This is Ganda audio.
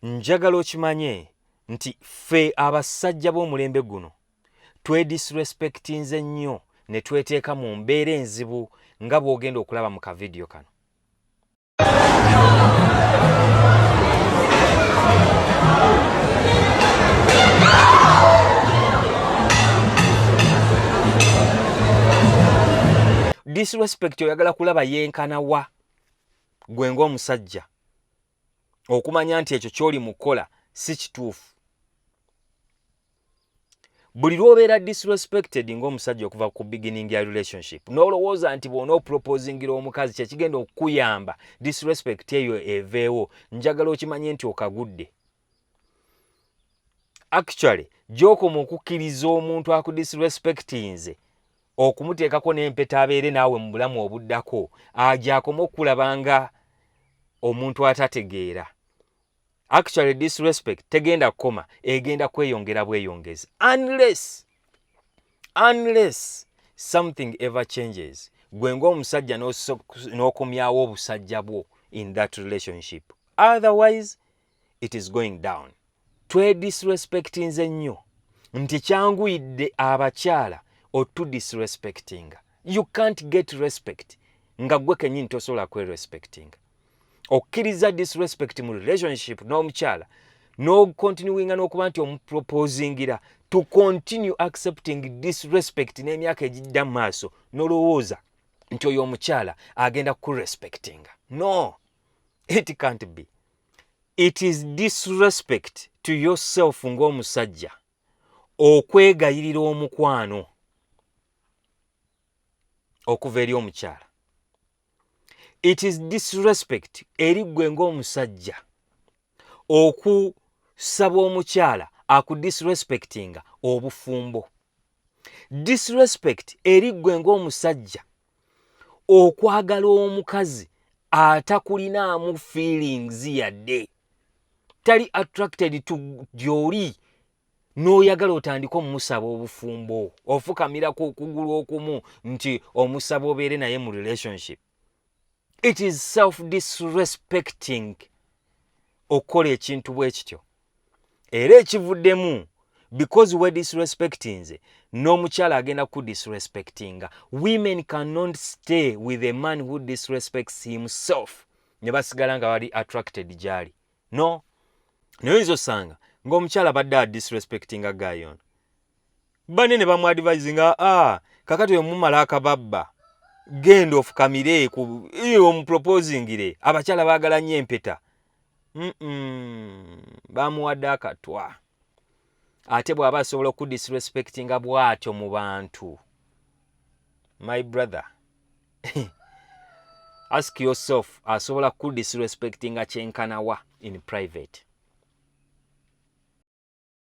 njagala okimanye nti ffe abasajja b'omulembe guno twedisrespectinze nnyo ne tweteeka mu mbeera enzibu nga bw'ogenda okulaba mu kavidiyo kano disrespect oyagala kulaba yenkana wa gwe ng'omusajja okumanya nti ekyo kyoli mu kukola si kituufu buli lwobeera disrespected ngaomusajja okuva ku beginning ya relationship nolowooza nti bwona oproposingira omukazi kyekigenda okukuyamba disrespect eyo eveewo njagala okimanye nti okagudde actually gyokoma okukkiriza omuntu akudisrespectinze okumuteekako n'empeta abeere naawe mu bulamu obuddako agyakoma okukulaba nga omuntu atategeera actually disrespect tegenda kukoma egenda kweyongera bweyongezi unless unless something ever changes gwe ngaomusajja n'okomyawo obusajja bwo in that relationship otherwise it is going down twedisrespectinze nnyo nti kyanguyidde abakyala otudisrespectinga you can't get respect nga gwe kenyini tosobola kwerespectinga okkiriza disrespect mu relationship n'omukyala n'okontinuwinga n'okuba nti omuproposingira to continue accepting disrespect n'emyaka egijja mu maaso nolowooza nti oyo omukyala agenda kurespectinga no it can't be it is disrespect to yourself ng'omusajja okwegayirira omukwano okuva eri omukyala it is disrespect eri ggwe ng'omusajja okusaba omukyala akudisrespectinga obufumbo disrespect eri ggwe ng'omusajja okwagala omukazi atakulinaamu feelings yadde tali attracted to gyoli n'oyagala otandika omusaba obufumbo ofukamirako okugulu okumu nti omusaba obeere naye mu relationship it is self disrespecting okukola ekintu bwe kityo era ekivuddemu because we disrespectinze n'omukyala agenda ku disrespectinga women cannot stay with a man who disrespects himself ne basigala nga bali attracted gyali no naye oyinza osanga ng'omukyala badde a disrespectinga guy ono banne ne bamuadvise nga a ah, kakati oyo mumala akababba genda ofukamire ku omuproposingire abakyala baagala nnyo empeta bamuwadde akatwa ate bw'aba asobola okudisrespectinga bw'atyo mu bantu my brother ask yourself asobola kudisrespectinga kyenkanawa in private